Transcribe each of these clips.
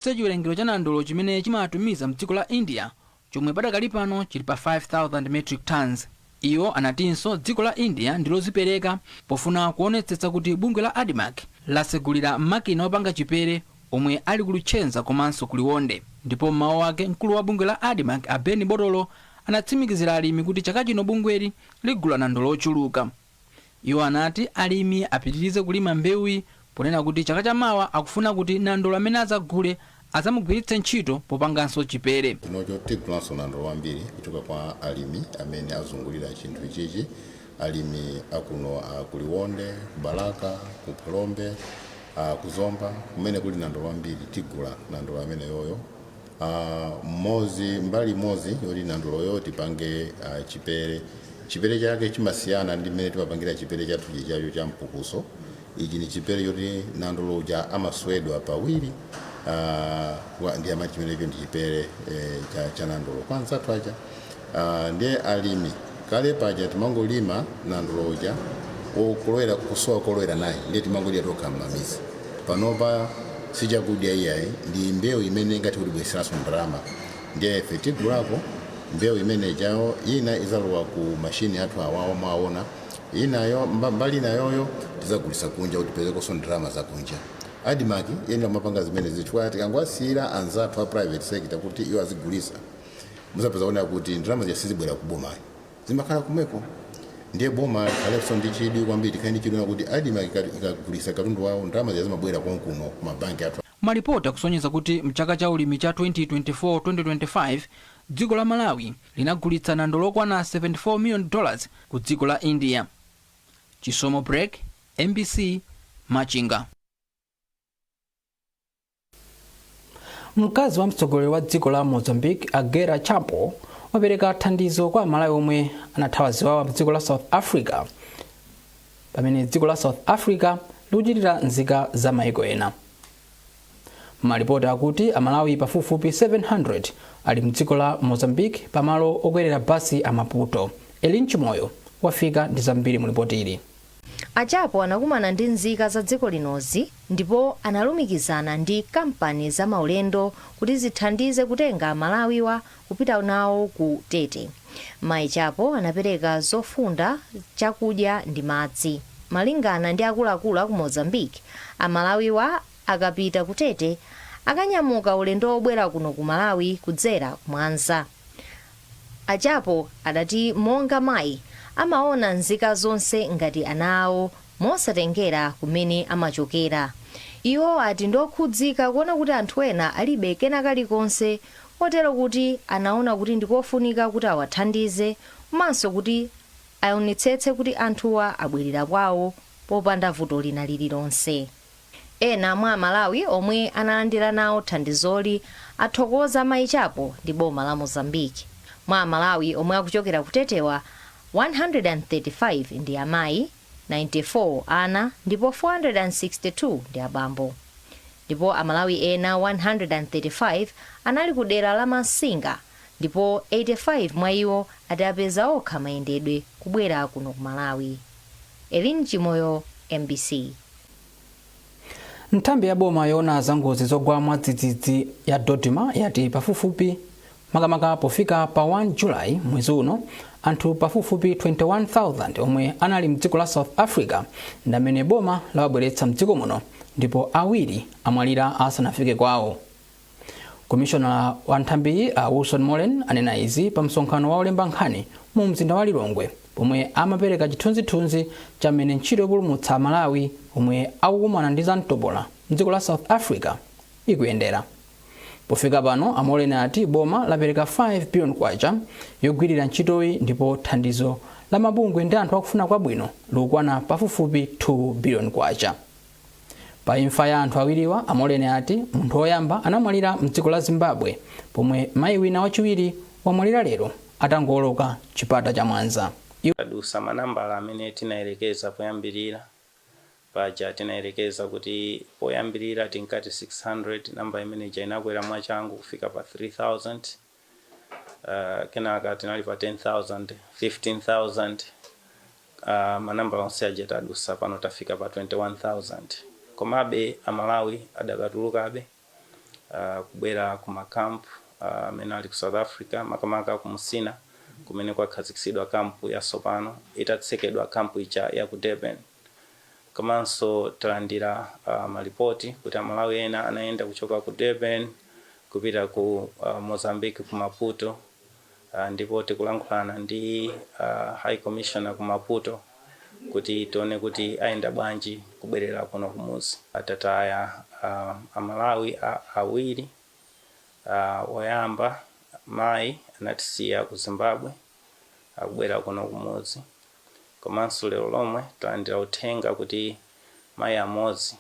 kuchepetse chiwerengero cha nandolo chimene chimatumiza mdziko la India chomwe padakali pano chili pa 5,000 metric tonnes. Iwo anatinso dziko la India ndilozipereka pofuna kuonetsetsa kuti bungwe la Admarc lasegulira makina opanga chipere omwe ali ku Luchenza komanso ku Liwonde. Ndipo m'mawu ake mkulu wa bungwe la Admarc a Ben Botolo anatsimikizira alimi kuti chaka chino bungweli ligula nandolo ochuluka. Iwo anati alimi apitirize kulima mbewuyi ponena kuti chaka cha mawa akufuna kuti nandolo amene adzagule adzamugwiritse ntchito popanganso chipere. chinocho tigulanso nandolo wambiri kuchoka kwa alimi amene azungulira chinthu ichichi. Alimi a kuno a ku Liwonde, ku Balaka, ku Phalombe, a ku Zomba kumene kuli nandolo wambiri tigula nandolo ameneyoyo. Uh, mozi mbali mozi yoti nandoloyo tipange uh, chipere chipere chake chimasiyana ndi mmene timapangira chipere chathu chichacho cha mpukuso ichi ni chipere choti nandolo uja amaswedwa pawiri uh, ndi amati chimenecho ndi chipere eh, cha, cha nandolo kwa anzathu aja Aaa nde alimi kale paja timangolima nandolo uja o kulowera kusowa kolowera naye nde timangodya tokha mmamizi panopa sichakudya iyayi ndi mbewu imene ingathe kutibweretseranso ndalama nde ife tigulako mbewu imene ijayo ina izalowa ku machine athu awawa mwaona inayo mba mbali inayoyo tizagulisa kunja kuti tipezekonso ndalama zakunja admarc iyenera kumapanga zimenezi chifukwa tikangowasiyira anzathu a private sector kuti iwo azigulisa muzapeza kuona kuti ndalama zija sizibwera ku boma zimakhala kumeko ndiye boma likhalenso ndi chidwi kwambiri tikhale ndi chidwi kuti Admarc ikagulisa katundu wawo ndalama zija zimabwera konkuno ku mabanki athu Malipoti akusonyeza kuti mchaka cha ulimi cha 2024-2025, dziko la Malawi linagulitsa nandolo okwana 74 million dollars ku dziko la India. Chisomo Break, mbc, Machinga. mkazi wa mtsogoleri wa dziko la mozambique a gueta chapo wapereka thandizo kwa amalawi omwe anathawa ziwawa mdziko la south africa pamene dziko la south africa likuchitira nzika za maiko ena malipoti akuti amalawi pafupifupi 700 ali mdziko la mozambique pamalo okwerera basi a maputo elin chimoyo wafika ndi zambiri mulipoti ili A Chapo anakumana ndi nzika za dziko linozi ndipo analumikizana ndi kampani za maulendo kuti zithandize kutenga amalawiwa kupita nawo ku Tete. Mai Chapo anapereka zofunda, chakudya ndi madzi. Malingana ndi akuluakulu aku Mozambique, amalawiwa akapita ku Tete akanyamuka ulendo wobwera kuno ku Malawi kudzera ku Mwanza. A Chapo adati monga mayi, amaona nzika zonse ngati ana awo mosatengera kumene amachokera. Iwo ati ndiokhudzika kuona kuti anthu ena alibe kena kalikonse kotero kuti anaona kuti ndikofunika kuti awathandize komanso kuti aonetsetse kuti anthuwa abwerera kwawo popanda vuto lina lililonse. Ena mwa aMalawi omwe analandira nawo thandizoli athokoza mayi Chapo ndi boma la Mozambique. Mwa aMalawi omwe akuchokera ku Tetewa, 135 ndi amayi, 94 ana ndipo 462 ndi abambo. Ndipo aMalawi ena 135 anali ku dera la Massinga ndipo 85 mwa iwo ati apeza okha mayendedwe kubwera kuno ku Malawi. Elin Chimoyo, mbc. nthambi ya boma yoona za ngozi zogwa mwadzidzidzi ya dodma yati pafupifupi makamaka pofika pa 1 julayi mwezi uno anthu pafupifupi 21000 omwe anali mdziko la south africa ndi amene boma lawabweretsa mdziko muno ndipo awiri amwalira asanafike kwawo Komishonala wa nthambiyi a Wilson Moleni anena izi pa msonkhano wa olemba nkhani mu mzinda wa Lilongwe pomwe amapereka chithunzithunzi cha mmene ntchito yopulumutsa Amalawi omwe akukumana ndi zamtopola mdziko la South Africa ikuyendera. Pofika pano, a Moleni ati boma lapereka 5 billion kwacha yogwirira ntchitoyi ndipo thandizo la mabungwe ndi anthu akufuna kwabwino likukwana pafupifupi 2 billion kwacha. Pa imfa ya anthu awiriwa, a Moleni ati munthu oyamba anamwalira mdziko la Zimbabwe pomwe mayi wina wachiwiri wamwalira lero atangooloka chipata cha Mwanza. Iwo. Tadusa manambala amene tinayerekeza poyambirira. Paja tinayerekeza kuti poyambirira tinkati 600, namba imene ija inakwera mwachangu kufika pa 3000. uh, kenaka tinali pa 10000 15000 uh, manambala onse aja tadusa pano tafika pa 21000 komabe amalawi adakatulukabe uh, kubwera ku makampu amene uh, ali ku south africa makamaka ku musina kumene kwakhazikitsidwa kampu yatsopano itatsekedwa kampu ija ya ku durban Komanso talandira malipoti kuti Amalawi ena anayenda kuchoka ku Durban kupita ku Mozambique ku Maputo ndipo tikulankhulana ndi a High Commissioner ku Maputo kuti tione kuti ayenda bwanji kubwerera kuno kumuzi. Tataya Amalawi awiri, woyamba mayi anatisiya ku Zimbabwe. akubwera kuno kumudzi komanso lero lomwe talandira uthenga kuti mayi amodzi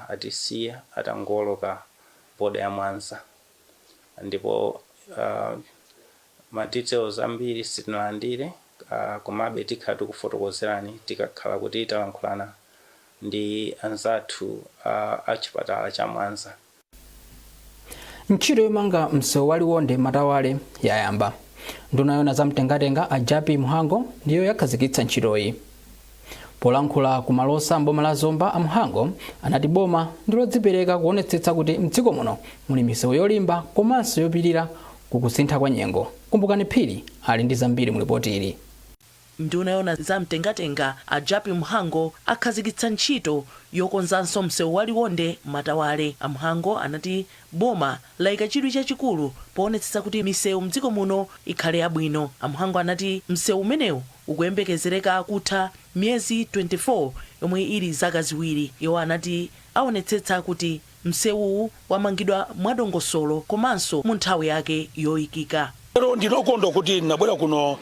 atisiya atangowoloka border ya Mwanza ndipo ma details ambiri sitinalandire komabe tikhala tikufotokozerani tikakhala kuti talankhulana ndi anzathu a chipatala cha Mwanza. ntchito yomanga msewu wa liwonde matawale yayamba nduna yona za mtengatenga a jappie mhango ndiyo yakhazikitsa ntchitoyi polankhula ku malosa mboma la zomba a mhango anati boma ndilodzipereka kuonetsetsa kuti mdziko muno muli misewu yolimba komanso yopirira kukusintha kwa nyengo kumbukani phiri ali ndi zambiri mu lipoti ili Nduna yoona za mtengatenga a Jappie Mhango akhazikitsa ntchito yokonzanso msewu wa Liwonde Matawale. A Mhango anati boma laika chidwi chachikulu poonetsetsa kuti misewu mdziko muno ikhale yabwino. A Mhango anati msewu umenewu ukuyembekezereka kutha miyezi 24 yomwe ili zaka ziwiri. Iwo anati aonetsetsa kuti. Msewuwu wamangidwa mwadongosolo komanso mu nthawi yake yoikika. Lero ndine okondwa kuti ndinabwera kuno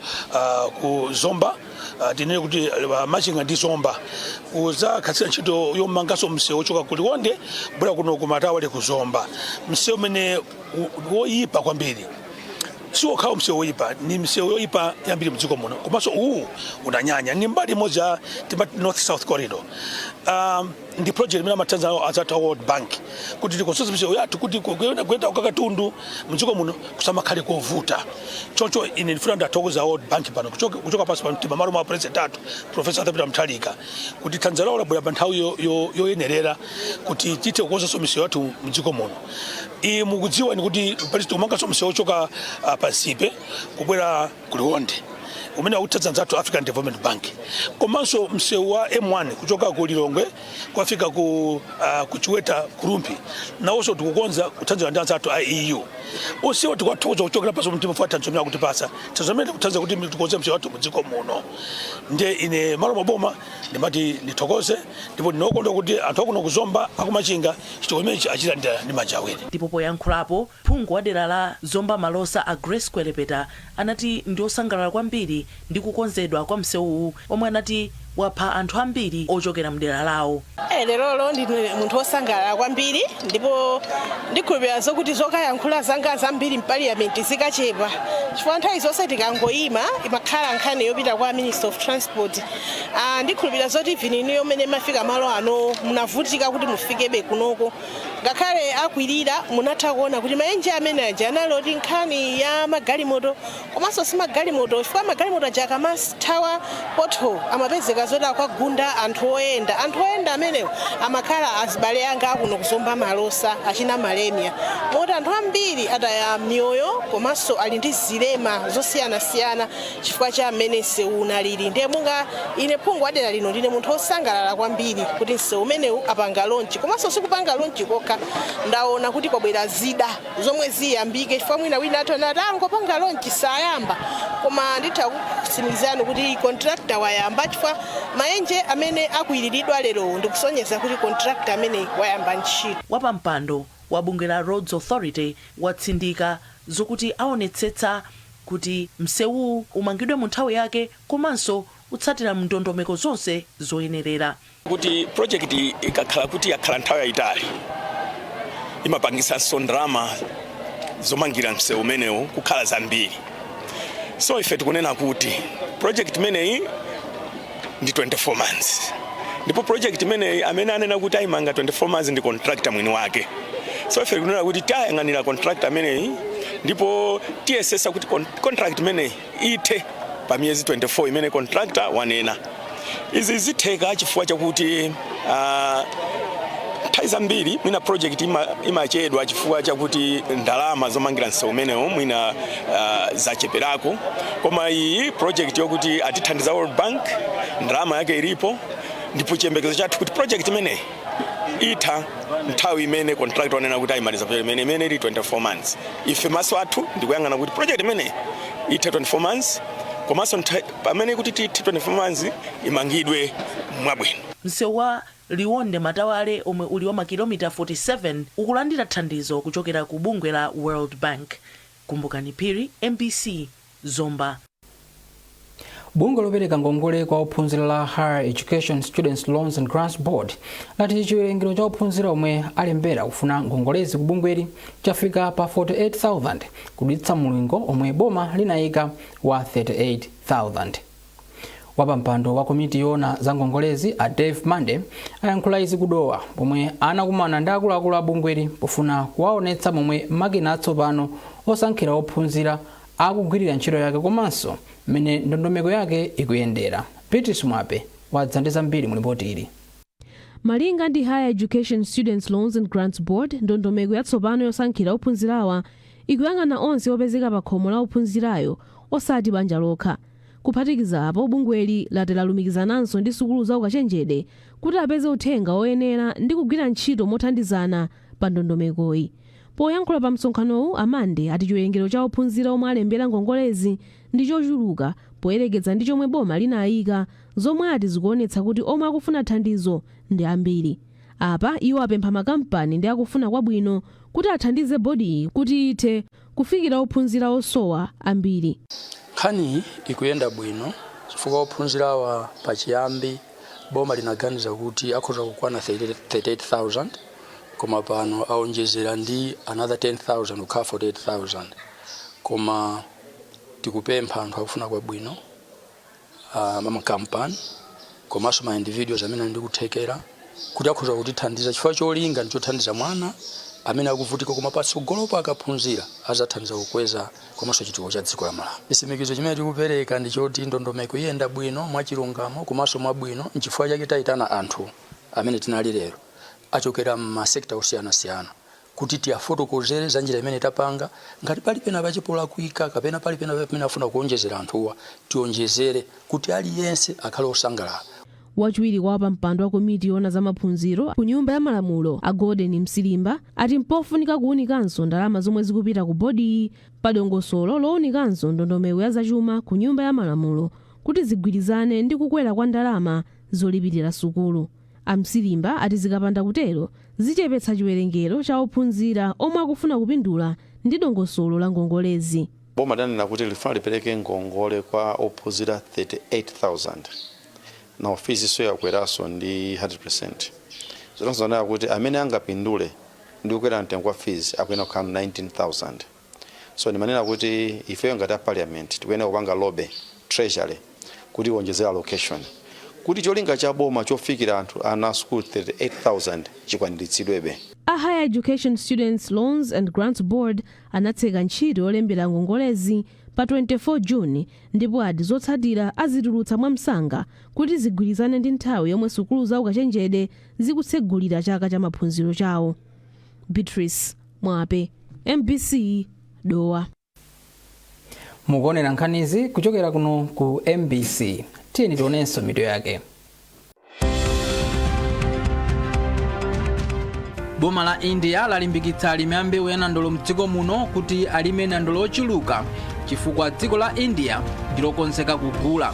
ku Zomba tinene kuti Machinga ndi Zomba kudzakhazikitsa ntchito yomanganso msewu wochoka ku Liwonde kubwera kuno ku Matawale ku Zomba. Msewu umenewu woyipa kwambiri siwokhawo msewu woyipa ndi misewu yoyipa yambiri mdziko muno komanso uwu unanyanya ndi mbali imodzi ya timati north south corridor. Um, ndi project imene amathandiza nawo anzathu a world bank kuti tikonzenso misewu yathu kuti kuyenda kuyenda kwa katundu mdziko muno kusamakhale kovuta choncho ine ndifuna ndathokoza world bank pano kuchoka kuchoka pansi pa mtima malo mwa president athu profesa arthur peter mutharika kuti thandizo lawo labwera pa nthawi yo- yo- yoyenerera kuti tithe kukonzanso misewu yathu mdziko muno iyi mukudziwanso kuti palinso tikumanganso msewu ochoka ah, pa nsipe kubwera ku Liwonde umene akutithandiza anzathu African Development Bank komanso msewu wa M1 kuchoka ku Lilongwe kukafika ku, uh, ku Chiweta ku Rumphi nawonso tikukonza kuthandizana ndi anzathu a EU onsewo tikuwathokoza kuchokera pansi pa mtima chifukwa cha thandizo limene akutipatsa thandizo limene akutithandiza kuti tikonze msewu wathu mudziko muno ndiye ine mmalo mwa boma ndimati ndithokoze ndipo ndine okondwa kuti anthu akuno ku Zomba a ku Machinga chitukuko imenechi achilandira ndi manja awiri ndipo poyankhulapo Phungu wa dera la Zomba Malosa a Grace Kwelepeta anati ndiosangalala kwambiri ndi kukonzedwa kwa msewuwu omwe anati wapha anthu ambiri ochokera mdera lawo. Lerolo ndine munthu osangalala kwambiri ndipo ndikhulupilira zokuti zokayankhula zanga zambiri mpaliyamenti zikachepa chifukwa nthawi zonse tikangoyima imakhala nkhani yopita kwa Minister of Transport. Ndikhulupilira zoti even inuyo mmene mmafika malo anowo munavutika kuti mufikebe kunoko. Ngakhale akwirira, munatha kuona kuti mayenje amene aja anali oti nkhani ya magalimoto komanso si magalimoto chifukwa magalimoto aja akamathawa pothole amapezeka zoti akwagunda anthu oyenda. Anthu oyenda amenewo amakhala azibale anga akuno ku Zomba Malosa achina Malemia moti anthu ambiri ataya miyoyo komanso ali ndi zilema zosiyanasiyana. chifukwa cha mmene msewu unalili ndiye monga ine phungu wa dera lino ndine munthu wosangalala kwambiri kuti msewu umenewu apanga lonchi komanso sikupanga lonchi kokha ndaona kuti kwabwera zida zomwe ziyambike chifukwa mwina wina atha kumati angopanga lonchi sayamba koma nditha kutsimikizani kuti kontrakta wayamba chifukwa mayenje amene akukwiriridwa lerowo ndikusonyeza kuti kontrakta amene wayamba ntchito Wapampando wa bungwe la Roads Authority watsindika zokuti awonetsetsa kuti msewuwu umangidwe mu nthawi yake komanso utsatira ndondomeko zonse zoyenerera. kuti project iyi ikakhala kuti yakhala nthawi yayitali imapangitsanso ndalama zomangira msewu umenewu kukhala zambiri. So ife tikunena kuti project imeneyi ndi 24 months ndipo project imeneyi amene anena kuti ayimanga 24 months ndi contractor mwini wake so ife tikunena kuti tiyang'anira contractor ameneyi ndipo tiyesesa kuti con- contract imeneyi ithe pa miyezi 24 imene contractor wanena izi zitheka chifukwa chakuti Ah, nthawi zambiri mwina project ima- imachedwa chifukwa chakuti ndalama zomangira msewu umenewo mwina ah, zacheperako koma iyi project yokuti atithandiza world bank ndalama yake ilipo ndipo chiyembekezo chathu kuti project imeneyi itha nthawi imene contractor wanena kuti ayimaliza project imene imene ili 24 months ife maso athu ndikuyang'ana kuti project imeneyi itha 24 months komanso ntha- pamene tikuti ti- ti 24 months imangidwe mwabwino msewu wa liwonde matawale omwe uli wa makilomita 47 ukulandira thandizo kuchokera ku bungwe la world bank kumbukani phiri mbc zomba bungwe lopereka ngongole kwa ophunzira la higher education students loans and grants board lati chiwerengero cha ophunzira omwe alembera kufuna ngongolezi ku bungweli chafika pa 48000 kudutsa mulingo omwe boma linayika wa 38,000. Wapampando wa komiti yoona za ngongolezi a Dave Mande ayankhula izi ku Dowa pomwe anakumana ndi akuluakulu a bungweli pofuna kuwaonetsa momwe makina atsopano osankhira ophunzira akugwirira ntchito yake komanso mmene ndondomeko yake ikuyendera. Beatrice Mwape wadza ndi zambiri mu lipoti ili. Malinga ndi Higher Education Students Loans and Grants Board, ndondomeko yatsopano yosankhira ophunzirawa ikuyang'ana onse opezeka pa khomo la ophunzirayo osati banja lokha. Kuphatikiza apo, bungweli lati lalumikizananso ndi sukulu za ukachenjede kuti apeze uthenga oyenera ndi kugwira ntchito mothandizana pa ndondomekoyi. Poyankhula pa msonkhanowu, a Mande ati chiwerengero cha ophunzira omwe alembera ngongolezi ndi chochuluka poyerekeza ndi chomwe boma linayika zomwe ati zikuonetsa kuti omwe akufuna thandizo ndi ambiri. Apa iwo apempha makampani ndi akufuna kwabwino kuti athandize bodiyi kuti ithe kufikira ophunzira osowa ambiri. Nkhaniyi ikuyenda bwino chifukwa ophunzirawa pachiyambi boma linaganiza kuti akhoza kukwana 38,000 koma pano aonjezera ndi another 10,000 kukhala 48,000 koma tikupempha anthu akufuna kwabwino, ah, makampani komanso ma individuals amene ali ndi kuthekera kuti akhoza kutithandiza chifukwa cholinga ndi chothandiza mwana amene akuvutika koma patsogolopo akaphunzira azathandiza kukweza komanso chitukuko cha dziko la Malawi chitsimikizo chimene tikupereka ndi choti ndondomeko iyenda bwino mwachilungamo komanso mwabwino nchifukwa chake tayitana anthu amene tinali lero achokera m'masekta osiyanasiyana kuti tiafotokozere za njira imene tapanga. Ngati pali penapache polakwika kapena pali pena pamene afuna kuonjezera anthuwa tionjezere kuti aliyense akhale osangalala. Wachiwiri kwa wapampando wa komiti yoona za maphunziro ku Nyumba ya Malamulo a Gordon Msilimba ati mpofunika kuunikanso ndalama zomwe zikupita ku bodiyi pa dongosolo lounikanso ndondomeko ya zachuma ku Nyumba ya Malamulo kuti zigwirizane ndi kukwera kwa ndalama zolipilira sukulu. A Msilimba ati zikapanda kutero zichepetsa chiwerengero cha ophunzira omwe akufuna kupindula ndi dongosolo la ngongolezi. Boma lidanena kuti lifuna lipereke ngongole kwa ophunzira 38,000. Now fees-nso yakakweraso ndi 100%. Zotanthauza kunena kuti amene angapindule ndi kukwera mtengo kwa fees akuyenera kukhala 19,000. So ndimanena kuti ifeyo ngati a parliament tikuyenera kupanga lobby treasury kuti iwonjezere allocation kuti cholinga cha boma chofikira anthu ana a sukulu 38,000 chikwaniritsidwebe. A Higher Education Students Loans and Grants Board anatseka ntchito yolembera ngongolezi pa 24 June ndipo ati zotsatira azitulutsa mwamsanga kuti zigwirizane ndi nthawi yomwe sukulu za ukachenjede zikutsegulira chaka cha maphunziro chawo. Beatrice Mwape MBC Dowa mukuonera nkhanizi kuchokera kuno ku MBC tiyeni tionenso mitu yake boma la India lalimbikitsa alimi a mbewu ya nandolo mdziko muno kuti alime nandolo ochuluka chifukwa dziko la India ndilokonzeka kugula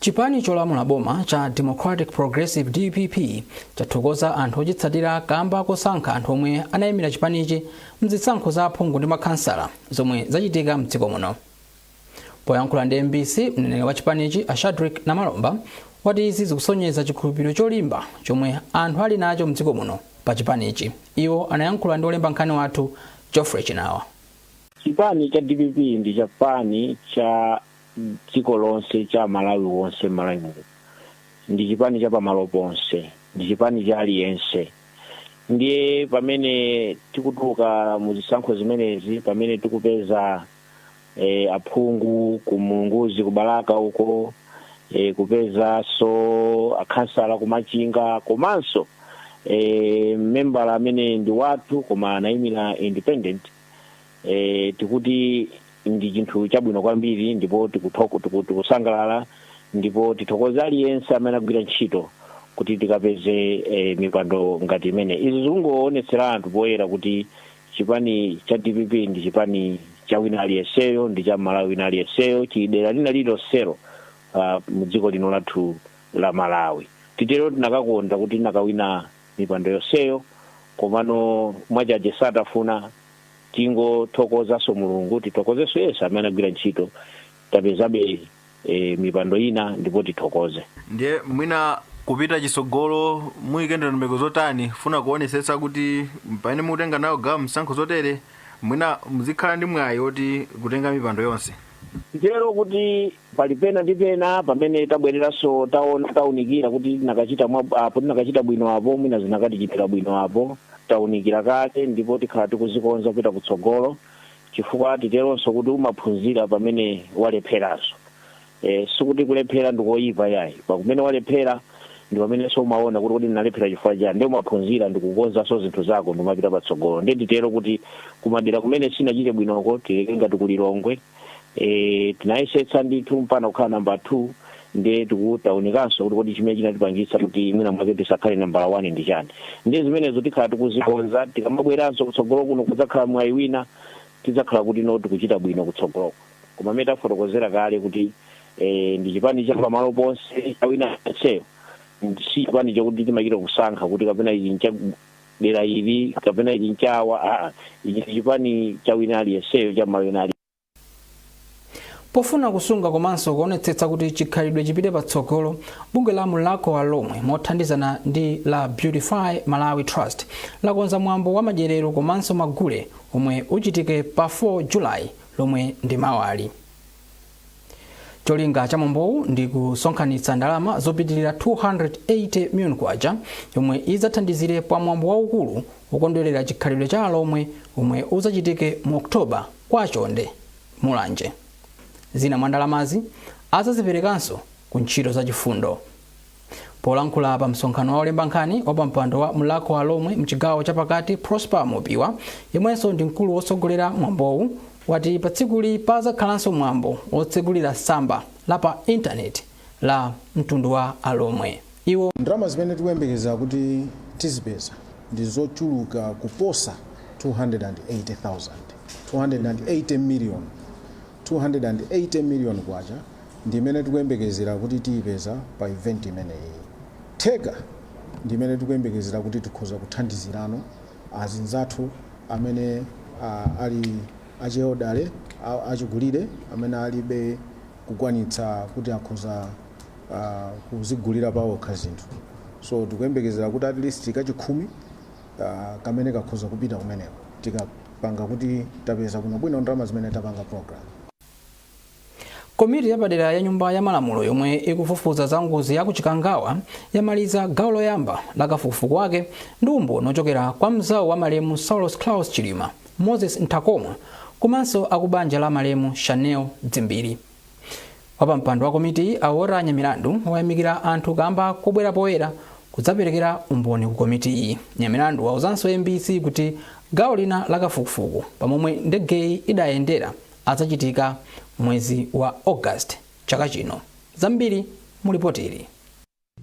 Chipani cholamula boma cha Democratic Progressive dpp chathokoza anthu ochitsatira kamba kosankha anthu omwe anayimira chipanichi mzisankho za aphungu ndi makhansala zomwe zachitika mdziko muno. Poyankhula ndi mbc, mneneri wa chipanichi a Shadrick Namalomba wati izi zikusonyeza chikhulupiriro cholimba chomwe anthu ali nacho mdziko muno pa chipanichi. Iwo anayankhula ndi olemba nkhani wathu Geoffrey Chinawa. Chipani cha dpp ndi chipani cha dziko lonse cha mmalawi wonse mmalawi muno ndi chipani cha pamalo ponse ndi chipani cha aliyense ndiye pamene tikutuluka mu zisankho zimenezi pamene tikupeza eh, aphungu ku mulunguzi kubalaka uko eh, kupezanso akhansala kumachinga komanso eh, membala amene ndi wathu koma anayimira independent e, tikuti ndi chinthu chabwino kwambiri ndipo tikuthoko- tiku- tikusangalala ndipo tithokoze aliyense amene agwira ntchito kuti tikapeze e, mipando ngati imeneyi izi zikungoonetsera anthu poyera kuti chipani cha dpp ndi chipani cha wina aliyenseyo ndi cha mmalawi wina aliyenseyo cha dera lina lililonselo ah, mu dziko lino lathu la malawi titero tinakakonda kuti tinakawina mipando yonseyo komano mwachaje satafuna tingothokozanso mulungu tithokozenso onse amene agwira ntchito tapezabe e, mipando ina ndipo tithokoze ndiye mwina kupita chitsogolo muyike ndondomeko zotani funa kuonetsetsa kuti pamene mukutenga nawo gawo mzisankho zotere mwina muzikhala ndi mwayi woti kutenga mipando yonse nditero kuti pali pena ndi pena pamene tabwereranso taona taunikira kuti tinakachita bwino apo tinakachita bwino apo mwina zinakatichitira bwino apo taunikira kale ndipo tikhala tikuzikonza kupita kutsogolo chifukwa titeronso kuti umaphunzira pamene walepheranso e, sikuti kulephera ndikoyipa yayi pamene walephera ndi pamenenso umaona kuti kodi ndinalephera chifukwa chani ndi umaphunzira ndikukonzanso zinthu zako ndi kumapita patsogolo ndiye titero kuti kumadera kumene sitinachite bwinoko titenge ngati kulilongwe e, tinayesetsa ndithu mpaka kukhala nambala two ndiye tikuunikanso kuti kodi chimene chinatipangitsa kuti mwina mwake tisakhale nambala one ndi chani ndiye zimenezo tikhala tikuzikonza tikamabweranso kutsogolo kuno kudzakhala mwayi wina tidzakhala kuti no tikuchita bwino kutsogoloko koma mmene tafotokozera kale kuti e, ndi chipani cha pamalo ponse cha wina aliyenseyo si chipani chokuti timachita kusankha kuti kapena ichi ncha dera ili kapena ichi nchawa aa ichi ndi chipani cha wina aliyenseyo cha mmalawi wina ali pofuna kusunga komanso kuonetsetsa kuti chikhalidwe chipite patsogolo bungwe la mulhako wa alhomwe mothandizana ndi la beautify malawi trust lakonza mwambo wa madyerero komanso magule omwe uchitike pa 4 july lomwe ndi mawali cholinga cha mwambowu ndi kusonkhanitsa ndalama zopitilira 280 million kwacha yomwe idzathandizire pa mwambo waukulu wokondwerera chikhalidwe cha alomwe omwe udzachitike mu oktoba kwa chonde mulanje zina mwa ndalamazi adzaziperekanso ku ntchito za chifundo Polankhula pa msonkhano wa olemba nkhani, wapampando wa Mulhako wa Alomwe mchigawo chapakati Prosper Mopiwa, yemwenso ndi mkulu wotsogolera mwambowu, wati patsikuli pazakhalanso mwambo wotsegulira tsamba la pa intaneti la mtundu wa Alomwe. Iwo. Ndalama zimene tikuyembekeza kuti tizipeza ndi zochuluka kuposa 280,000, 280, 280 million kwacha. ndi imene tikuyembekezera kuti tiipeza pa event imeneyi. Theka ndi imene tikuyembekezera kuti tikhoza kuthandizirano azinzathu amene ali achielderly, achikulire amene alibe kukwanitsa kuti akhoza kuzigulira paokha zinthu. So tikuyembekezera kuti at least kachikhumi kamene kakhoza kupita kumeneko tikapanga kuti tapeza bwinobwino ndalama zimene tapanga program. komiti yapadera ya nyumba ya malamulo yomwe ikufufuza za ngozi ya ku chikangawa yamaliza gawo loyamba la kafukufuku wake ndi umboni ochokera kwa mzawo wa malemu saulos claus chilima moses nthakomwa komanso akubanja la malemu shanil dzimbiri wapampando wa komitiyi a walter nyamilandu wayamikira anthu kamba kobwera poyera kudzaperekera umboni ku komitiyi nyamilandu wauzanso mbc kuti gawo lina la kafukufuku pamomwe ndegeyi idayendera adzachitika mwezi wa August chaka chino. Zambiri mu lipotili.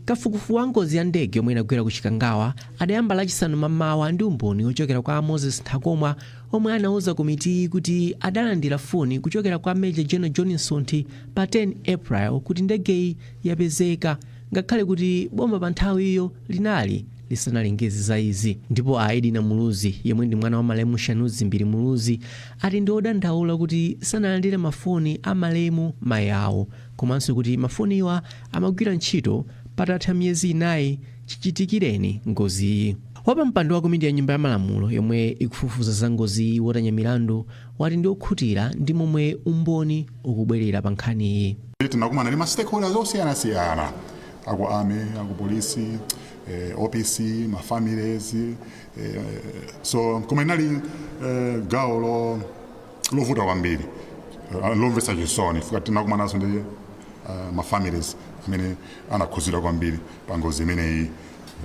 Kafukufuku wa ngozi ya ndege yomwe inagwera ku Chikangawa adayamba lachisanu mamawa ndi umboni wochokera kwa Moses Nthakomwa omwe anauza komitiyi kuti adalandira foni kuchokera kwa Major General John Msonthi pa 10 April kuti ndegeyi yapezeka ngakhale kuti boma pa nthawiyo linali lisanalengeze za izi ndipo a Edina Muluzi yemwe ndi mwana wa malemu Shanil Dzimbiri Muluzi ati ndi odandaula kuti sanalandire mafoni a malemu mayi awo komanso kuti mafoniwa amagwira ntchito patatha miyezi inayi chichitikireni ngoziyi. Wapampando wa komiti ya Nyumba ya Malamulo yomwe ikufufuza za ngoziyi, Walter Nyamilandu, wati ndi okhutira ndi momwe umboni ukubwerera pa nkhaniyi. Tinakumana ndi ma stakeholders osiyanasiyana, a ku Army, a ku Police, eh, OPC, ma families, Eh, so koma inali eh, gawo lo- lovuta kwambiri eh, lomvetsa chisoni fuka tinakumananso ndi eh, ma families amene anakhuzidwa kwambiri pa ngozi imeneyi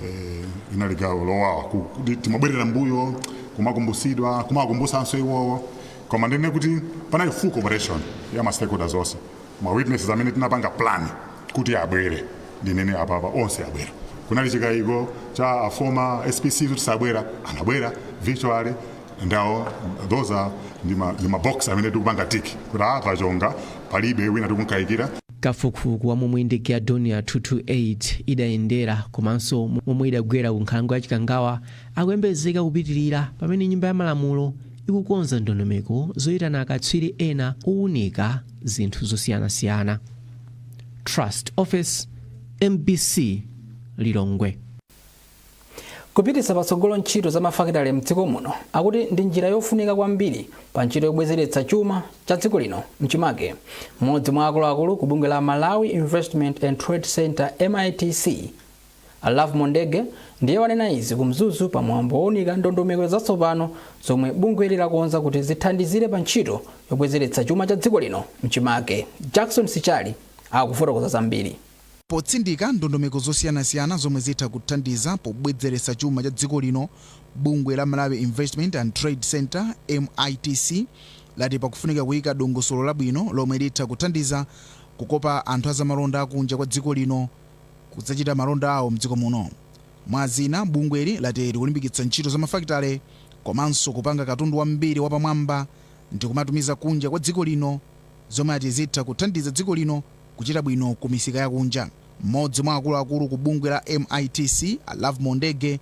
Eh, inali gawo lowawa ku- kuti timabwerera mbuyo kumakumbusidwa kumakumbusanso iwowo koma ndinene kuti panali full cooperation ya ma stakeholders onse ma witnesses amene tinapanga plan kuti abwere ndinene apapa onse abwera kunali chikayiko cha a former spc kuti sabwera anabwera virtually ndawo those are ndi ma- ndi mabox amene tikupanga tick kuti apa chonga palibe wina tikumkayikira kafukufuku wa momwe ndege ya Dornier 228 idayendera komanso momwe idagwera ku nkhalango ya chikangawa akuyembekezeka kupitirira pamene nyumba ya malamulo ikukonza ndondomeko zoyitana akatswiri ena owunika zinthu zosiyanasiyana. Trust Office, mbc Lilongwe. Kupititsa patsogolo ntchito za mafakitale m'dziko muno akuti ndi njira yofunika kwambiri pa ntchito yobwezeretsa chuma cha dziko lino mchimake. Mmodzi mwa akuluakulu ku bungwe la Malawi Investment and Trade Centre MITC, A Lovemore Ndege ndiye wanena izi ku Mzuzu pa mwambo wounika ndondomeko zatsopano zomwe bungweli lakonza kuti zithandizire pa ntchito yobwezeretsa chuma cha dziko lino mchimake. Jackson Sichali akufotokoza zambiri. Potsindika ndondomeko zosiyanasiyana zomwe zitha kuthandiza pobwezeretsa chuma cha dziko lino, bungwe la Malawi Investment and Trade Centre, MITC, lati pakufunika kuyika dongosolo labwino lomwe litha kuthandiza kukopa anthu azamalonda akunja kwa dziko lino. kudzachita malonda awo mdziko muno. Mwazina, bungweli lati likulimbikitsa ntchito za mafakitale komanso kupanga katundu wambiri wapamwamba ndikumatumiza kunja kwa dziko lino zomwe ati zitha kuthandiza dziko lino kuchita bwino ku misika yakunja. Mmodzi mwa akuluakulu ku bungwe la MITC, a Lovemore Ndege,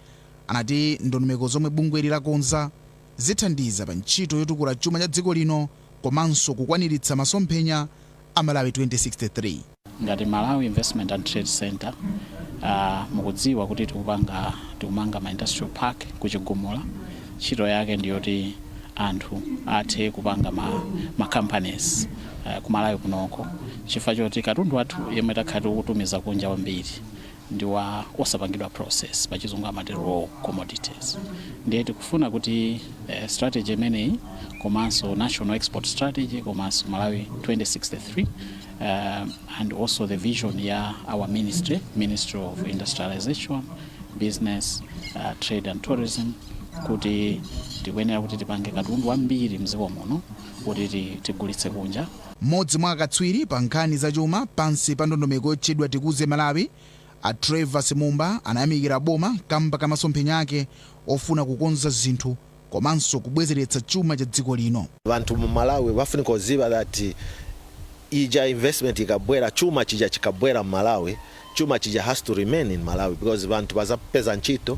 anati ndondomeko zomwe bungweli lakonza zithandiza pa ntchito yotukula chuma cha dziko lino komanso kukwaniritsa masomphenya a Malawi 2063. Ngati Malawi Investment and Trade Centre, uh, mukudziwa kuti tikupanga tikumanga ma industrial park ku Chigumula. Ntchito yake ndi yoti anthu athe kupanga ma, ma companies uh, ku Malawi kunoko chifukwa choti katundu wathu yemwe takhala tikutumiza kunja wambiri ndi wa osapangidwa process pachizungu amati raw commodities ndiye tikufuna kuti eh, strategy imeneyi komanso national export strategy komanso malawi 2063 um, and also the vision ya our ministry ministry of industrialization business uh, trade and tourism kuti tikuyenera kuti tipange katundu wambiri mdziko muno kuti ti- tigulitse kunja Mmodzi mwa akatswiri pa nkhani za chuma pansi pa ndondomeko yotchedwa Tikuze Malawi, a Trevor Simumba anayamikira boma kamba ka masomphenya ake ofuna kukonza zinthu komanso kubwezeretsa chuma cha dziko lino. Banthu mu Malawi bafunika uziba that ija investment ikabwera, chuma chija chikabwera m'Malawi, chuma chija has to remain in Malawi because banthu bazapeza ntchito,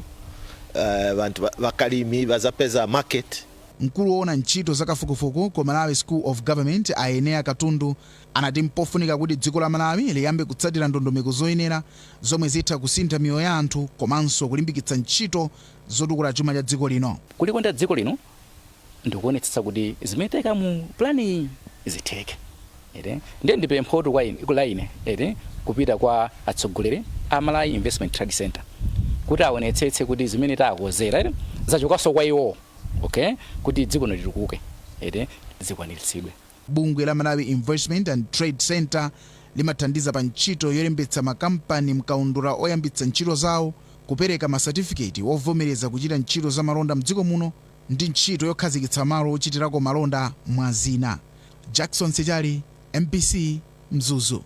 banthu, bakalimi bazapeza market. Mkulu woona ntchito za kafukufuku ku Malawi School of Government a Eneya Katundu anati mpofunika kuti dziko la Malawi liyambe kutsatira ndondomeko zoyenera zomwe zitha kusintha miyoyo ya anthu komanso kulimbikitsa ntchito zotukula chuma cha dziko lino. Kulikonda dziko lino ndikuonetsetsa kuti zimene taika mu pulaniyi zitheke. Eti? Ndiye ndipemphotu kwa ine, la ine eti? kupita kwa atsogoleri a Malawi Investment and Trade Center kuti aonetsetse kuti zimene taakozera eti? zachokanso kwa iwowo okay? kuti dziko lino litukuke eti? zikwaniritsidwe. Bungwe la Malawi Investment and Trade Center limathandiza pa ntchito yolembetsa makampani m'kaundula oyambitsa ntchito zawo, kupereka masatifiketi ovomereza kuchita ntchito zamalonda m'dziko muno, ndi ntchito yokhazikitsa malo ochitirako malonda mwa zina. Jackson Sichali, mbc, Mzuzu.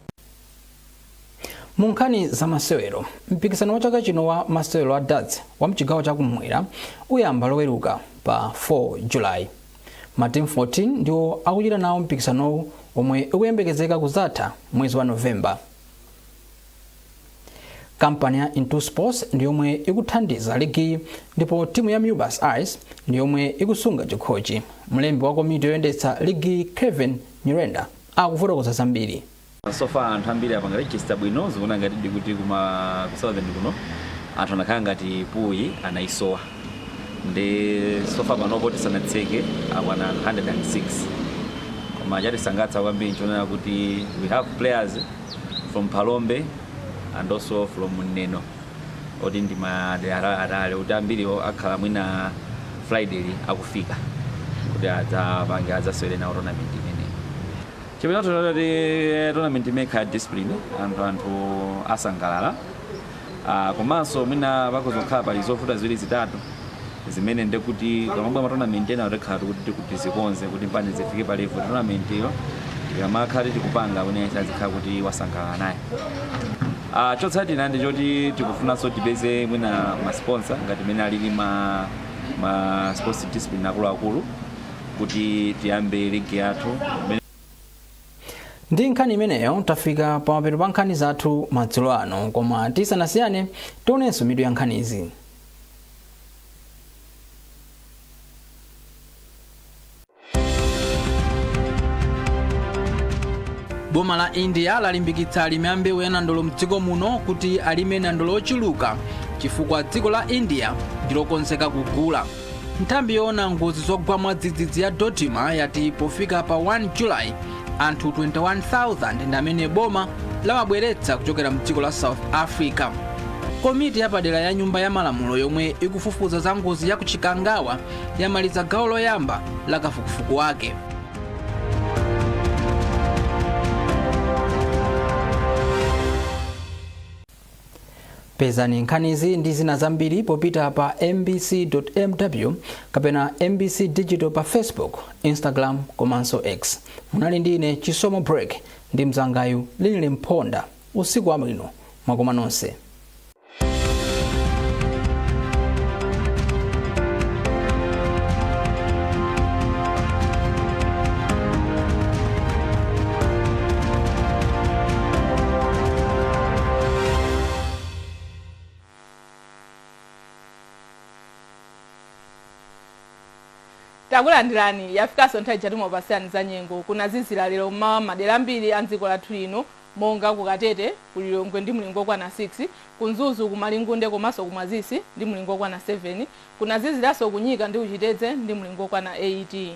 Mu nkhani za masewero, mpikisano wa chaka chino wa masewero a darts wa mchigawo cha kum'mwera uyamba loweruka pa 4 July. Matimu 14 ndiwo akuchita nawo mpikisanowu omwe ukuyembekezeka kuzatha mwezi wa November. Kampani ya Intu Sports ndi yomwe ikuthandiza ligiyi ndipo timu ya Mubas Eyes ndi yomwe ikusunga chikhochi. Mlembi wa komiti yoyendetsa ligiyi Kevin Nyirenda akufotokoza zambiri. so far anthu ambiri apanga register bwino zikuona ngati ndi kuti kuma ku southern kuno anthu anakhala ngati pool anayisowa ndi so far panopo tisanatseke akwana 106 koma chatisangalatsa kwambiri nchonena kuti we have players from Phalombe and also from Neno oti ndi madera atali atali kuti ambiriwo akhala mwina Friday li akufika kuti adzapange adzasewere nawo tournament imeneyi chiyembekezo nchoti tournament imeneyi ikhala ya discipline anthu anthu asangalala Ah, komanso mwina pakhoza kukhala pali zovuta ziwiri zitatu zimene ndekuti pamabwa matonament ena tikhala tikuti tikuti zikonze kuti mpaka zifike pa level tournament iyo ikamakhala tikupanga kuti yense azikhala kuti wasangalala naye Ah, chotsatira ndi choti tikufunanso tipeze mwina masponsa ngati mene alili ma, ma sports discipline akuluakulu kuti tiyambe ligi yathu Mene- ndi nkhani imeneyo tafika pamapeto pa nkhani zathu madzulo ano koma tisanasiyane tionenso mitu ya nkhanizi boma la india lalimbikitsa alimi a mbewu ya nandolo mdziko muno kuti alime nandolo ochuluka chifukwa dziko la india ndilokonzeka kugula nthambi yoona ngozi zogwa mwadzidzidzi ya dodma yati pofika pa 1 julayi anthu 21,000 ndi amene boma lawabweretsa kuchokera mdziko la south africa komiti yapadera ya nyumba ya malamulo yomwe ikufufuza za ngozi ya kuchikangawa yamaliza gawo loyamba la kafukufuku wake pezani nkhanizi ndi zina zambiri popita pa mbc.mw kapena mbc digital pa facebook instagram komanso x munali ndi ine chisomo break ndi mzangayu linili mponda usiku wabwino mwakoma nonse Takulandilani, yafikanso nthawi ija timakupatsilani za nyengo. Kunazizila lero m'mawa m'madera ambiri a m'dziko lathu lino monga ku Katete, ku Lilongwe ndi mlingo okwana 6, ku Mzuzu, ku Malingunde komanso ku Mwazisi ndi mlingo okwana 7. Kunazizilanso ku Nyika ndi ku Chitedze ndi mlingo okwana 8.